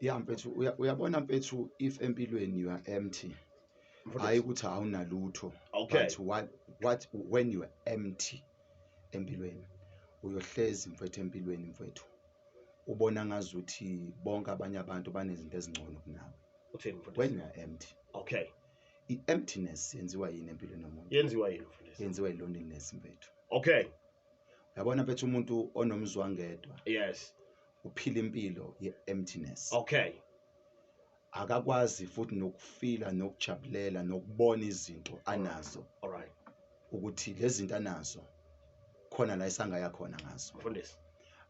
ya mfethu uya- uyabona mfethu if empilweni you are empty hayi ukuthi awunalutho Okay. but what, what when you are empty empilweni uyohlezi mfethu empilweni mfethu ubona ngazuthi bonke abanye abantu banezinto ezingcono kunawe uthini mfundisi when you are empty okay i-emptiness yenziwa yini empilweni yomuntu yenziwa yini mfundisi yenziwa i-loneliness mfethu okay uyabona mfethu umuntu onomzwangedwa yes uphila impilo ye-emptiness okay akakwazi futhi nokufila nokujabulela nokubona izinto anazo all right ukuthi lezi zinto anazo khona la isangaya khona ngazo mfundisi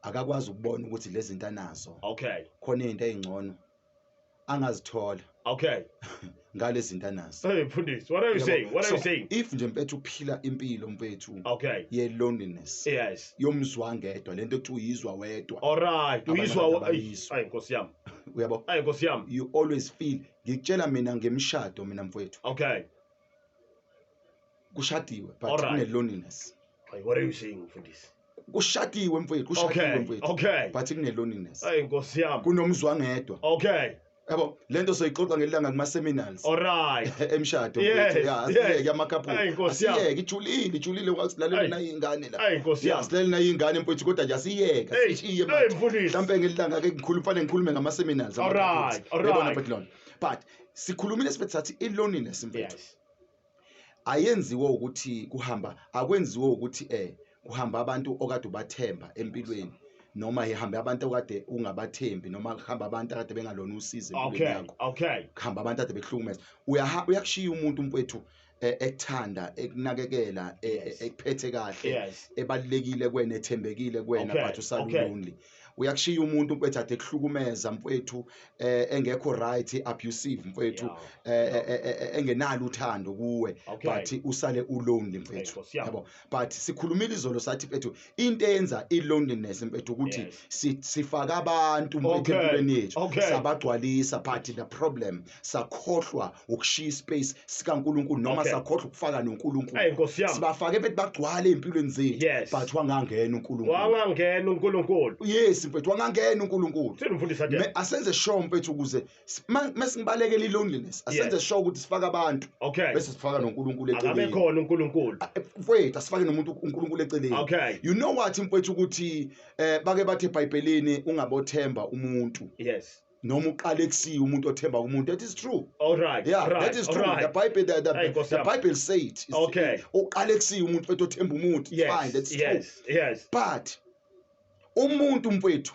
akakwazi ukubona ukuthi lezi zinto anazo okay khona izinto ezingcono angazithola okay ngale zinto anazo hey mfundisi what are you saying what are you saying if nje mpethu uphila impilo mpethu okay ye loneliness yes yomzwa ngedwa lento ekuthiwa uyizwa wedwa all right uyizwa ayi nkosi yami uyabo ayi nkosi yami you always feel ngikutshela mina ngemshado mina mfowethu okay kushadiwe but Alright. kune loneliness Ay, what are you saying mfundisi kushadiwe mfowethu kushadiwe okay mfowethu okay but kune loneliness ay nkosi yami kunomzwangedwa okay yabo lento soyixoxa ngelanga kuma seminars all right emshado Yes, mfowethu. Ya, yes. asiyeke amakhaphu Ay, Nkosi yami. asiyeke ijulile ijulile Ay. wasilalela nayo ingane la ay nkosi yami yasilalela nayo ingane mfowethu kodwa nje asiyeke Hey, sishiye hey, manje mfundisi. mhlampe ngelanga ke ngikhuluma fanele ngikhulume ngama seminars Alright, alright. but sikhulumile sibethe sathi i-loneliness mfethu Yes. ayenziwe ukuthi kuhamba akwenziwe ukuthi eh kuhamba abantu okade ubathemba empilweni noma ihambe abantu okade ungabathembi noma kuhamba abantu akade bengalona usizo empilweni Okay. yakho Okay. kuhamba abantu ade bekuhlukumeza uyaha uyakushiya umuntu mfethu eh, ekuthanda ekunakekela eh, Yes. eh, ekuphethe kahle Yes. ebalulekile kuwena ethembekile kuwena Okay, but usala okay. ulonely uyakushiya umuntu mfethu ade kuhlukumeza mfethu eh, engekho right abusive mfethu Yeah. eh, eh, eh, eh, engenalo uthando kuwe Okay. but usale ulonely mfethu Nkosi yami. yabo but sikhulumile izolo sathi mfethu into eyenza i-loneliness mfethu ukuthi Yes. si- sifaka abantu mfethu Okay, empilweni yethu okay. sabagcwalisa but the problem sakhohlwa ukushiya ispace sikankulunkulu noma Okay. sakhohlwa ukufaka Hey, nonkulunkulu Nkosi yami. sibafake mfethu bagcwale ey'mpilweni zethu Yes. but wangangena unkulunkulu wangangena unkulunkulu yes mfethu wangangena unkulunkulu Senu mfundisi Adela. Me- asenze sure mfethu ukuze S- ma- mesibalekela i-loneliness asenze Yes. sure ukuthi sifaka abantu okay bese sifaka nonkulunkulu akabe eceleni khona uNkulunkulu mfwethu asifake nomuntu unkulunkulu eceleni okay you know what mfwethu ukuthi eh bake bathi ebhayibhelini ungabothemba umuntu yes noma uqale kusiya umuntu othemba umuntu that is true all right yeah all right that is all true the right bible the, the, Hey, Nkosi the yami. bible say it It's- Okay. uqale kusiya umuntu mfwethu othemba umuntu fine yes that's true yes yes but umuntu mfwethu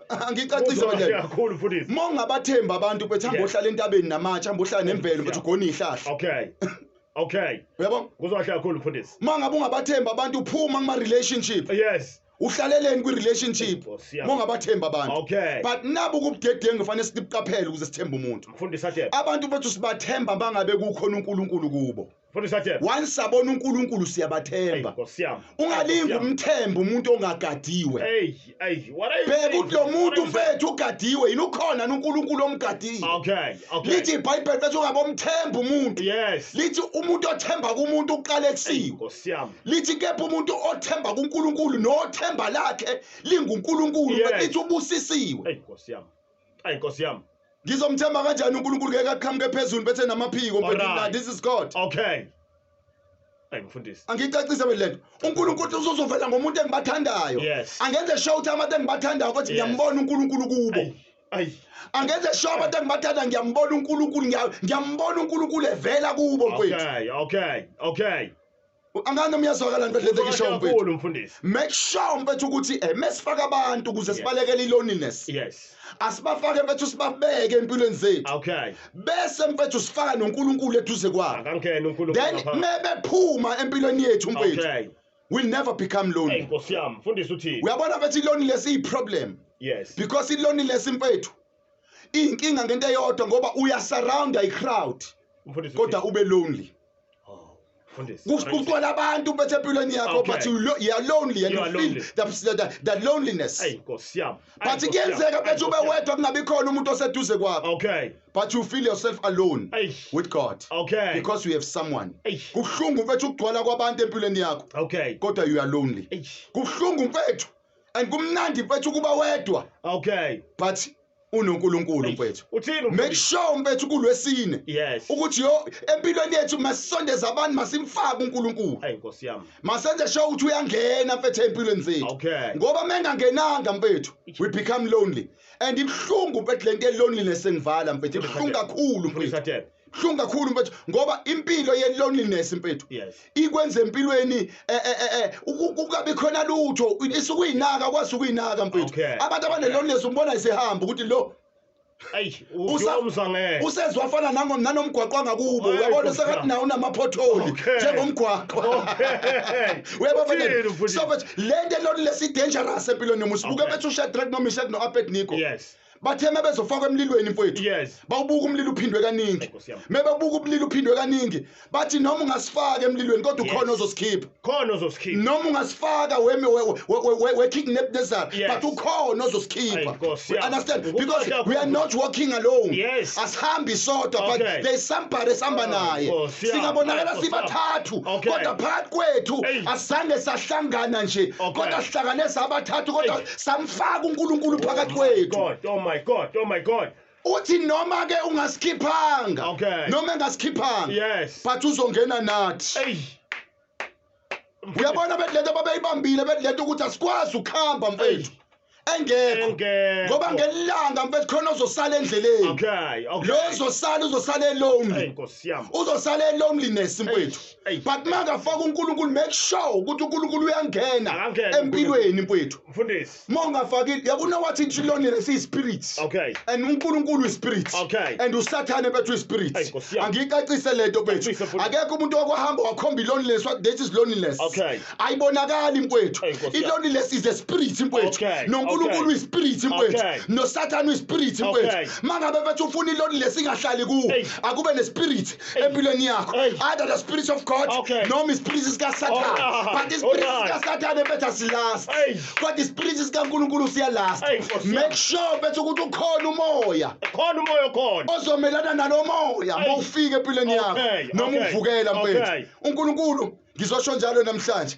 angicacise bandela kakhulu futhi mongabathemba abantu bethi hamba ohlala entabeni namatshe hamba ohlala nemvelo bethi ugona ihlahla okay okay uyabo kuzohlala kakhulu mfundisi mangabe ungabathemba abantu uphuma kuma relationship yes uhlaleleni kwi-relationship mongabathemba abantu okay. but nabu kubudedengu kufanele sibuqaphele ukuze sithembe umuntu abantu bethu sibathemba bangabe kukhona unkulunkulu kubo once sabona unkulunkulu siyabathemba ungalingi umthemba umuntu ongagadiwe bheka ukuthi lo muntu mfethu ugadiwe yini ukhona nunkulunkulu omgadile lithi ibhayibheli fethu ungabomthemba umuntu lithi umuntu othemba kumuntu uqala ekusiwe lithi kepha umuntu othemba kunkulunkulu nothemba lakhe lingunkulunkulu lithi ubusisiwe ayi nkosi yami ngizomthemba kanjani unkulunkulu ngeke aqhamuke phezulu bese namaphiko Alright. mfethu this is god okay ayi mfundisi angicacise wena lento unkulunkulu uzozovela ngomuntu engibathandayo Yes. angenze sure ukuthi abantu engibathandayo ukuthi Yes. ngiyambona unkulunkulu kubo ayi ayi angenze sure abantu engibathanda ngiyambona unkulunkulu ngiya- ngiyambona unkulunkulu evela kubo mfethu okay okay okay angane umyazwakala nto lento kisho mfowethu mfundisi make sure mfowethu ukuthi eh, mesifaka abantu ukuze sibalekele iloneliness yes asibafake mfethu sibabeke empilweni zethu okay bese mfethu sifaka noNkulunkulu eduze kwabo akangena uNkulunkulu then mebephuma empilweni yethu mfethu okay will never become lonely inkosi yami mfundisi uthini uyabona mfethu iloneliness iyi problem yes because iloneliness mfethu inkinga ngento eyodwa ngoba uya surround i crowd kodwa ube lonely kuqola abantu bethe empilweni yakho but you lo, you are lonely and you, you feel the, the, the loneliness hey nkosi yami but kuyenzeka bethu ube wedwa kungabi khona umuntu oseduze kwakho okay but you feel yourself alone hey. with God okay because you have someone kuhlungu mfethu ukugcwala kwabantu empilweni yakho okay kodwa you are lonely kuhlungu mfethu and kumnandi mfethu kuba wedwa okay but unoNkulunkulu mfethu make sure mfethu kulwesine ukuthi yo empilweni yethu masisondeza abantu masimfake uNkulunkulu hey nkosi yami masenze sure ukuthi uyangena mfethu empilweni zethu ngoba mengangenanga mfethu we become lonely and ibhlungu mfethu lento eloneliness engivala mfethu ibhlungu kakhulu mfethu hlungu kakhulu mfethu ngoba impilo ye loneliness mfethu yes. ikwenza empilweni eh, eh, eh, eh ukungabi khona lutho isukuyinaka kwazi ukuyinaka mfethu okay. abantu abane loneliness umbona isehamba ukuthi lo usezwa afana nanomgwaqo angakubo uyabona sekathi nawo unamaphotholi njengomgwaqo uyabona so le nto elonile si-dangerous empilweni yomuntu sibuke bethu ushadrak noma ishak no-abednico yes bathe mebezofakwa emlilweni mfowethu yes bawubuka umlilo uphindwe kaningi mebebuka umlilo uphindwe kaningi bathi noma ungasifaka emlilweni kodwa ukhona ozosikhipha khona ozosikhipha noma ungasifaka weme we kidnap nezara but ukhona ozosikhipha understand because we are not walking alone yes asihambi sodwa but there is somebody esihamba oh, naye singabonakala sibathathu kodwa phakathi kwethu asizange sahlangana nje kodwa sihlangane sabathathu kodwa samfaka uNkulunkulu oh phakathi kwethu God oh my God oh my God uthi noma ke ungasikhiphanga okay. noma engasikhiphanga yes. but uzongena nathi hey. uyabona bethi lento babeyibambile bethi lento ukuthi asikwazi ukuhamba mfethu engekho ngoba ngelanga mfethu khona ozosala endleleni okay okay lo uzosala uzosala elonely uzosala eloneliness mfethu Eish. but makafaka uNkulunkulu make sure ukuthi uNkulunkulu uyangena Akangena empilweni mfowethu mfundisi uma ungafakile yakuna wathi inhlonile siyispirit Okay. and unkulunkulu uyispirit Okay. and usathane bethu Ayi, uyispirit Nkosi yami. angiyicacise lento bethu Ngiyacacisa, mfundisi. akekho umuntu okwahamba wakhomba iloneliness what that is loneliness Okay. ayibonakali mfowethu Ayi, Nkosi yami. iloneliness is a spirit mfowethu Okay, nonkulunkulu okay. uyispirit mfowethu Okay. nosathane uyispirit mfowethu Okay. mangabe bethu ufuna iloneliness ingahlali kuwe Ayi. akube nespirit empilweni yakho either the spirit of god okay. noma ispiriti sikasathane oh, but ispiriti right. sikasathane bethu asilast kodwa ispiriti sikankulunkulu siyalast make sure bethu ukuthi ukhona umoya khona umoya okhona ozomelana nalo moya ma ufike empilweni yakho noma uvukela mfethu unkulunkulu ngizosho njalo namhlanje